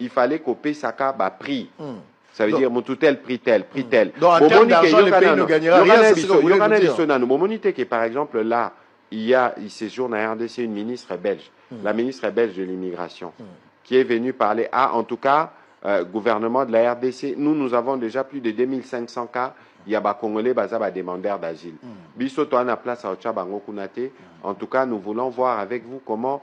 il fallait ko pesaka ba prix ça veut dire mutu tel prix tel prix tel bomoni ke yoka nanu yoka na biso nanu bomoni te ke par exemple là il ya il sejour na rdc une ministre belge la ministre belge de l'immigration qui est venu parler a ah, en tout cas euh, gouvernement de la rdc nous nous avons déjà plus de 2500 cas ya ba congolais baza ba demandeurs d'asile biso toana place aotya bango kuna te en tout cas nous voulons voir avec vous comment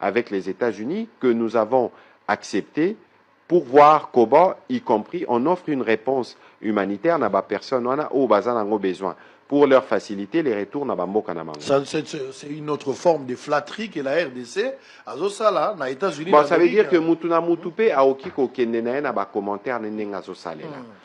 avec les Etats Unis que nous avons accepte pour voir comment y compris on offre une reponse humanitaire na ba personne wana oyo baza nango besoin pour leur faciliter les retours na ba mboka na bango c'est une autre forme de flatterie que la rdc azo sala na Etats Unis bon ça veut dire que mutu na mutu pe aoki ko kende na ye na ba commentaire ne ndenge azo salela hmm.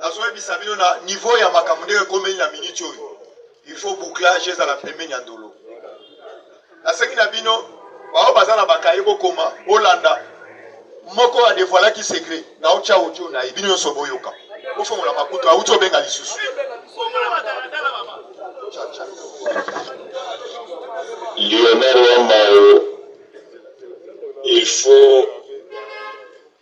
nazoyebisa bino na niveau ya makambo ndenge ekomeli na minute oyo il faut bouclage ezala pembeni ya ndolo nasengi na bino baoyo baza na bakaye kokoma bolanda moko adevoilaki secret na otya audio na ye bino nyonso boyoka bofongola makutu auti obenga lisusu lionel wambao il faut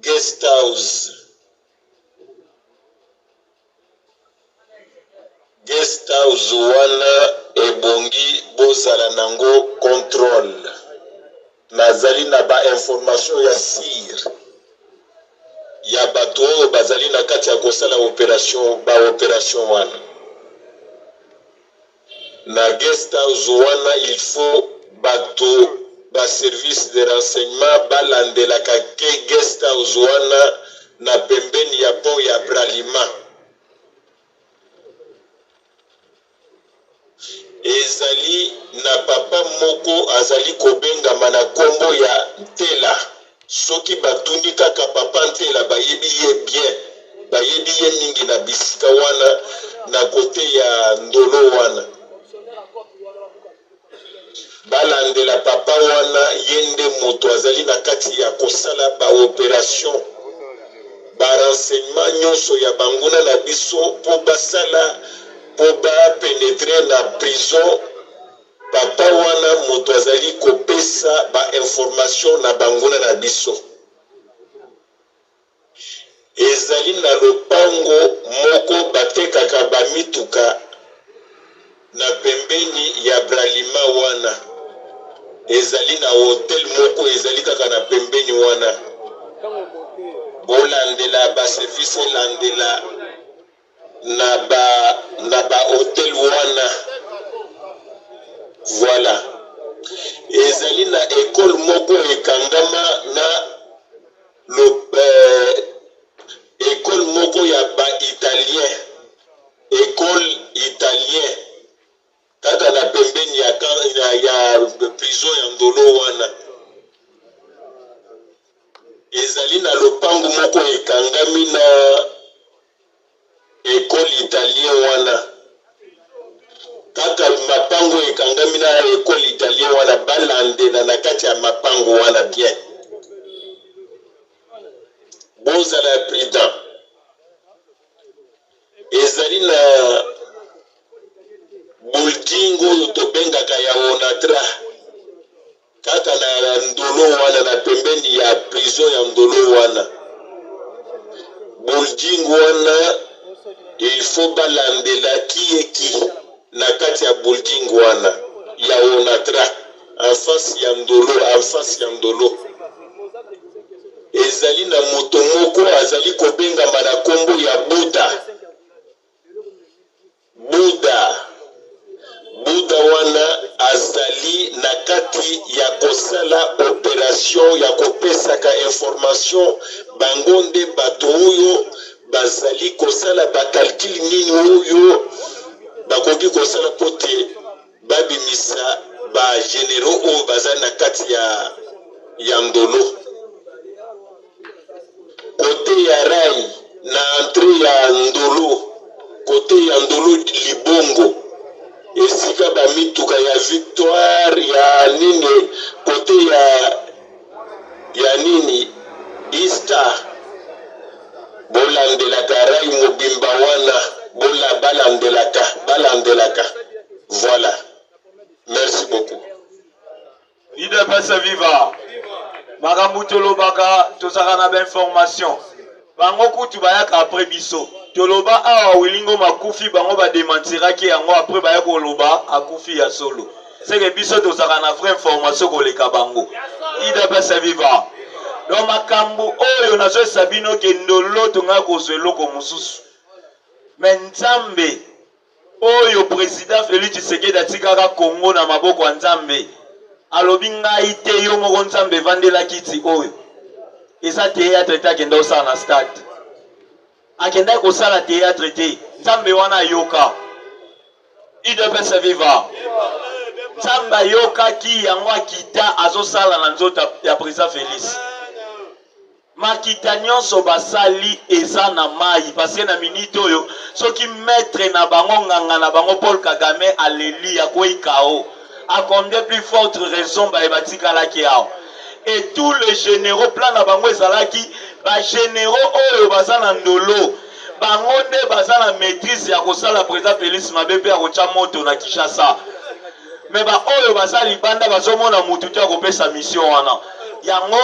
Guest house Guest house wana ebongi bozala nango controle nazali na ba information ya sur ya batu oyo bazali na kati ya kosala operation ba operation wana. Na guest house wana il faut batu ba service de renseignement ba landelaka que guest house wana na pembeni ya pont ya Bralima ezali na papa moko azali kobengama na kombo ya Ntela. Soki batuni kaka papa Nzela bayebi ye bien bayebi ye mingi na bisika wana na cote ya ndolo wana balandela papa wana ye nde moto azali na kati ya kosala ba operation ba renseignement nionso ya banguna na biso po basala po ba penetre na prison Papa wana mutu azali kopesa ba informations na banguna na biso ezali na lopango moko batekaka ba mituka na pembeni ya bralima wana ezali na hotel moko ezali kaka na pembeni wana bolandela ba service elandela na ba na ba hotel wana voila ezali na ecole moko ekangama na lo, euh, ecole moko ya ba italien ecole italien Kaka na pembeni ya camp ya ya prison ya Ndolo wana ezali na lopangu moko ekangami na ecole italien wana kaka mapango ekangami na ecole italien wana balandela na kati ya mapango wana bien bozala prudent Ezali na bulding oyo tobengaka ya Onatra, kaka na Ndolo wana, na pembeni ya prison ya Ndolo wana. Bulding wana il faut balandela qui est qui na kati ya bulding wana ya Onatra. En face ya Ndolo, en face ya Ndolo. Ezali na moto moko azali kobengama na kombo ya Buda. Buda. Buda wana azali na kati ya kosala operation ya kopesaka information bango nde bato oyo bazali kosala ba calcul nini oyo bakoki kosala po te babimisa ba generaux oyo baza na kati ya ya ndolo kote ya rai na entre ya ndolo kote ya ndolo libongo esika bamituka ya victoire ya nini kote ya Ya nini Easter bo landelaka rail mobimba wana bo la ba landelaka ba landelaka voila merci beaucoup. Udps viva! Makambu tolobaka tozalaka na ba informations. Bango kutu bayaka apres biso. Toloba awa Willy Ngoma akufi bango ba dementiraki yango apres baya koloba akufi ya solo. Seke biso tozalaka na vrai information koleka bango. Udps viva. Donc makambu oyo nazo yebisa bino ke ndoloto ngai akozua eloko mususu mais Nzambe Oyo president Felix Tshisekedi atikaka Congo na maboko ya Nzambe. Alobi ngai te yo moko Nzambe vandela kiti oyo. Eza theatre te akenda osala na stade. Akendaki kosala theatre te. Nzambe wana ayoka. Udps viva. Nzambe ayokaki yango akita azosala na nzoto ya president Felix. Makita nionso basali eza na mayi parce que na minute oyo soki maitre na bango nganga na bango Paul kagame aleli akweyi KO a combien plus forte raison baye batikalaki awa et tout les generaux plan na bango ezalaki ba generaux oyo baza na ndolo bango nde baza na maitrise ya kosala president Felix mabe pe ya kotia moto na Kinshasa. mais ba oyo baza libanda bazomona mutu te akopesa mission wana yango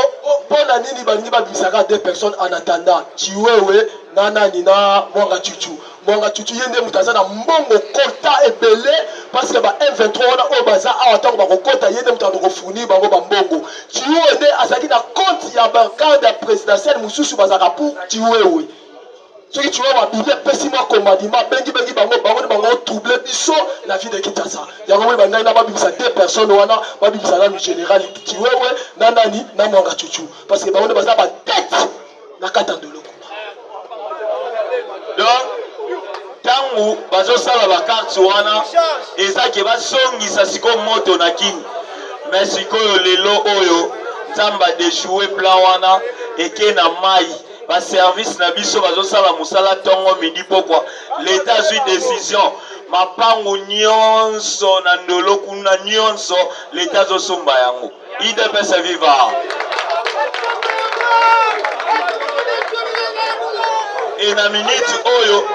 mpo na nini balingi babimisaka deux personnes en attendant chiwewe na nani na mwanga chuchu mwanga chuchu ye nde moto aza na mbongo kota ebele parce que ba m23 wana oyo baza awa ntango bakokota ye nde moto aza kofournir bango bambongo chiwewe nde azalaki na compte ya bagarde ya présidentielle mosusu bazalaka pour chiwewe soki chihuahua abimi apesi mwa commandima abengi bengi bango bango nde bango trouble biso na vie de kinshasa yango moni bandai na babimisa deux personnes wana babimisa nanu général chiwewe na nani na mwanga chuchu parce que bango nde baza batete na kati ya ndolo kuna donc ntango bazosala bakarte wana eza ke bazongisa sikoyo moto na kini me sikoyo lelo oyo nzambe adechoue plan wana eke na mai ba service na biso bazosala mosala ntongo midi pokwa leta azwi decision mapangu nyonso na ndolo kuna nyonso leta azosomba yango idps viva e na miniti oyo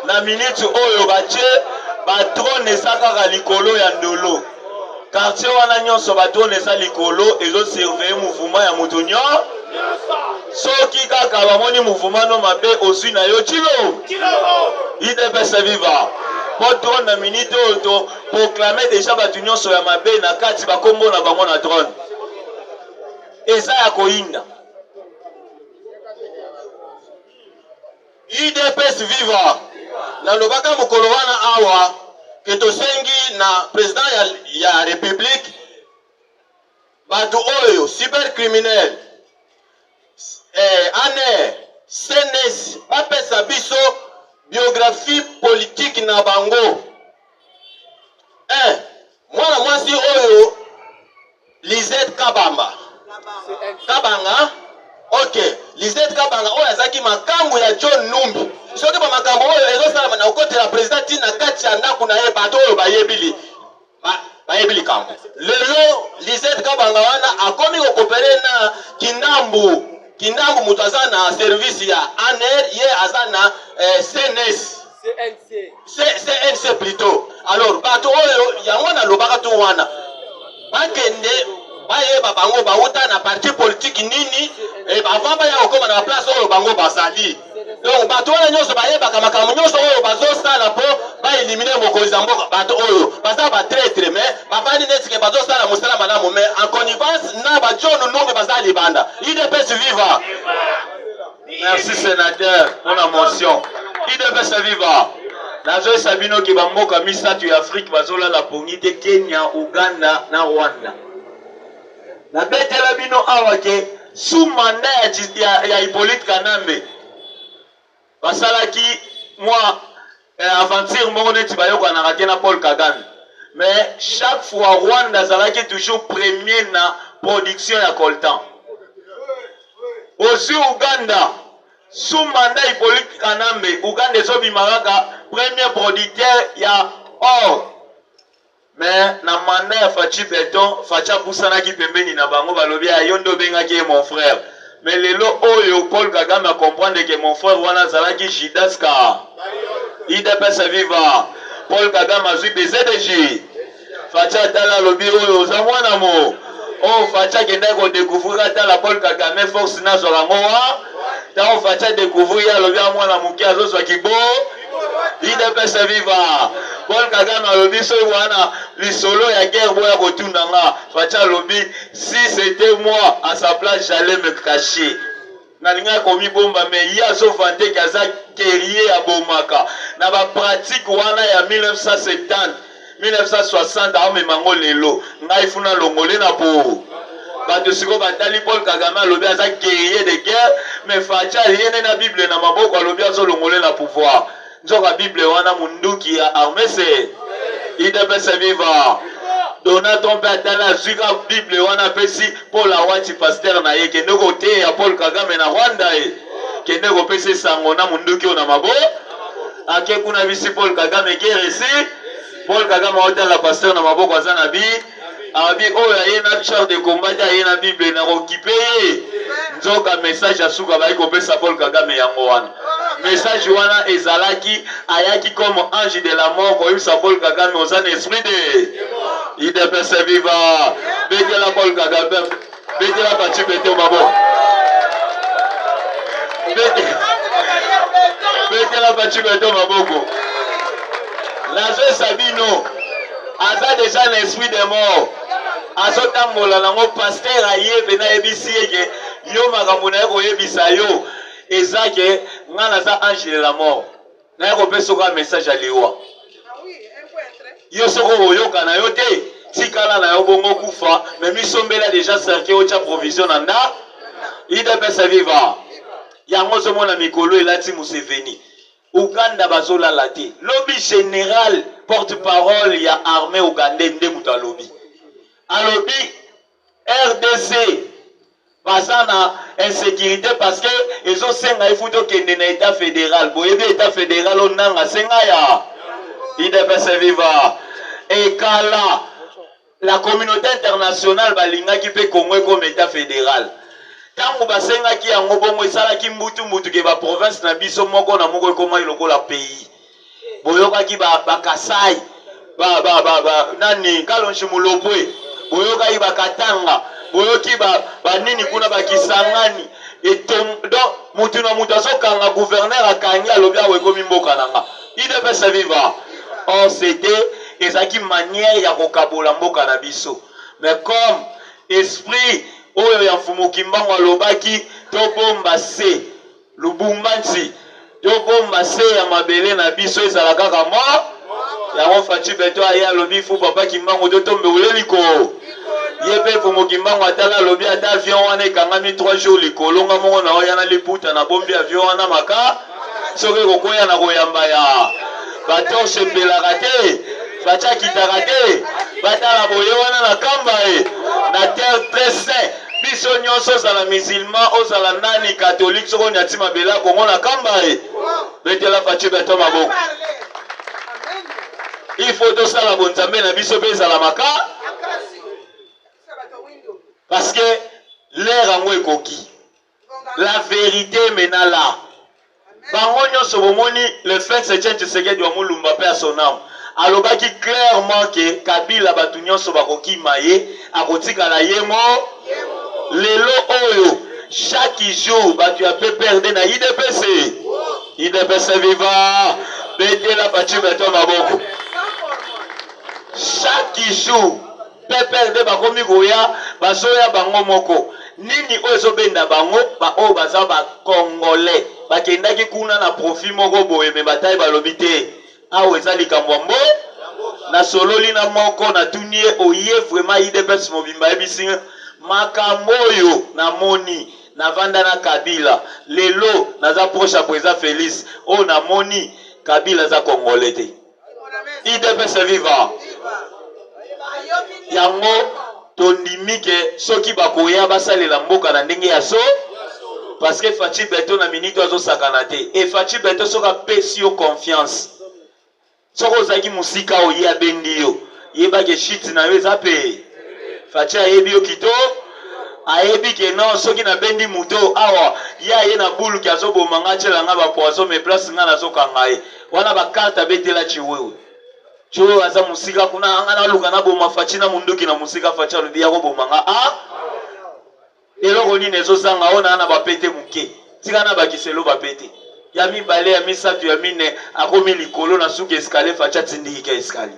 na miniti oyo batye badrone eza kaka likolo ya ndolo Quartier wana nyonso ba drone eza likolo ezo surveiller mouvement ya moto nyo soki kaka bamoni mouvement no mabe ozwi na yo chilo idps viva po drone na minute oyo to proclame deja bato nyonso ya mabe na kati bakombo na bango na drone eza ya koyinda Udps viva! Na lobaka mokolo wana awa que to sengi na president ya ya republique batu oyo cyber criminel eh, aner, CNS ba pesa biso biographie politique na bango. Eh, mwana mwasi oyo Lizette Kabamba Kabanga ok Lizette Kabanga oyo azaki makangu ya John Numbi soki ba makambo oyo ezosalama na kokotela president ti na kati ya ndako na ye bato oyo bayebi li ba, bayebi likambo lelo Lizette Kabanga wana akomi kokopere na kindambu kindambu moto aza na service ya ANR ye aza na eh, CNS cnc plutot alors bato oyo yango nalobaka to wana bakende bayeba bango bauta na parti politiki nini eh, avant baya kokoma na baplace oyo bango bazali donc bato wana nyonso bayebaka makambo nyonso oyo bazosala mpo baelimine mokonzi ya mboka bato oyo baza batretre me bafandi neti ke bazosala mosala malamu me en connivence na bajono nunge baza libanda idps viva Merci senateur pona motion. Idps viva. Nazoyesa bino ke bamboka misato ya Afrique bazolala pongi te Kenya, Uganda na Rwanda. Nabetela bino awa ke sous mandat ya, ya, ya Hippolyte Kanambe basalaki mwa Eh aventure moko neti bayokanaka te na Paul Kagame mais chaque fois Rwanda azalaki toujours premier na production ya coltan. Ozui Uganda sous mandat Hyppolite Kanambe Uganda ezobima kaka premier producteur ya or. Mais na mandat ya Fatshi Beton, Fatshi apusanaki pembeni na bango, balobi ah yo nde obengaki ye mon frère. Mais lelo oyo Paul Kagame a comprendre que mon frère wana azalaki Judas ka. Udps viva! Paul Kagame azui bcbg. Fatshi atala alobi oyo oza mwana mo. Oyo Fatshi akendaki ko decouvrir atala Paul Kagame force nazwaka ngo wa. Tango Fatshi a decouvrir ye alobi a mwana moke azozwa kibo. idps viva paul kagame alobi soki wana lisolo ya guerre boya kotunda nga faci alobi si c'était moi à sa place j'allais me cacher nalingaki komibomba me ye azovante ke aza guerrier abomaka na bapratique wana ya 1970 1960 aomema yango lelo ngai fu na longole na po bato sikoyo batali paul kagame alobi aza guerrier de guerre mais faci alie nde na bible na maboko alobi azolongole na pouvoir nzoka bible wana munduki ya armese idps viva donald trump atali azwi ka bible wana apesi paul awati paster na ye kende koteya paul kagame na rwanda ye kende kopesa esango na munduki oyo na maboko Ake kuna bisi Paul Kagame keresi. Paul Kagame aotala pasteur na maboko aza na bi. Abi oyo aye na char de combat te aye na Bible na kokipe ye. Nzoka message ya suka bayi kopesa Paul Kagame yango wana. Message wana ezalaki ayaki comme ange de la mort koyebisa Paul Kagame oza na esprit de. Idepese viva. Betela Paul Kagame. Betela Fatshi Beton maboko. Betela Fatshi Beton maboko. Nazwesa bino aza deja na esprit de mort azotambola nango paster aye mpe nayebisi ye ke yo makambo na ye koyebisa yo eza ke ngai naza ange de la mort naye kopesa oka message ya liwa yo soko oyoka na yo te tikala na yo bongo kufa me misombela deja cercueil otya provision na nda idps viva yango ozomona mikolo elati museveni uganda bazolala te lobi general porte parole ya armée ougandais nde moto alobi alobi Rdc baza na insecurite parce que ezo senga il faut to kende na etat federal boyebi etat federal o nanga senga ya idps viva ekala la communauté internationale balingaki mpe congo ekoma etat federal ntango basengaki yango bongo esalaki mbutu mbutu ke baprovince na biso moko na moko ekomaki lokola pays boyokaki bakasai ba, ba, ba, ba, nani kalonji mulopwe boyokaki bakatanga boyoki banini ba kuna bakisangani donc mutu na mutu azokanga guverner akangi alobi awa ekomi mboka na nga idepese viva or cete ezalaki manière ya kokabola mboka na biso mais comme esprit oyo ya mfumu kimbangu alobaki tobomba se Lubumbashi to bomba se ya mabele na biso ezala kaka mo yango Fatshi Beton aye alobi fu papa Kimbangu to tombe ule liko ye pe Mfumu Kimbangu atala alobi ata avion wana ekangami 3 jours likolo nga moko na oya na liputa na bombi avion wana maka soki ekokweya na koyamba ya ba torche epelaka te Fatshi akitaka te batala boye wana na kamba e na terre très saint Biso nionso ozala musulman ozala nani catholique soki onyati mabele ya Congo na kamba ye betela Fatshi beton maboko il faut tosala bonzambe na biso mpe ezala maka parce que l'heure yango ekoki la vérité mena là Bango nionso bomoni le fils Etienne Tshisekedi wa Mulumba paix à son ame alobaki clairement que Kabila batu nionso bakokima ye akotikala ye mo lelo oyo chaque jour batu ya PPRD na udps udps viva betela Fatshi beton maboko chaque jour Pepele nde bakomi koya bazoya bango moko nini oyo ezobenda bango ba oyo baza ba congolais bakendaki kuna na profit moko boye mais ba tai balobi te awa eza likambo ya mbo nasololi na moko natuni ye oye vraiment udps mobimba ayebisi nga makambo oyo namoni navanda na kabila lelo naza proche ya president felix oyo namoni kabila aza congolais te idps viva yango tondimi ke soki bakoya basalela mboka na ndenge ya so parce que faci beto na minute azosakana te e faci beto soki apesi yo confiance soki ozalaki mosika oye abendi yo yebake shit na yo eza pe faci ayebi yo kito ayebi ke non soki nabendi moto awa ye aye na bulki azoboma nga atyela nga bapoison me place nga nazokanga ye Wana ba carte abetela tshiwewe. Tshiwewe aza musika kuna anga naluka naboma Fatshi na munduki na musika Fatshi alobi yako boma nga a eloko nini ezo zanga awa naa na ba pete muke tika na bakisa eloba pete ya mibale ya misatu ya mine akomi likolo na suka escalier Fatshi atindiki ka escalier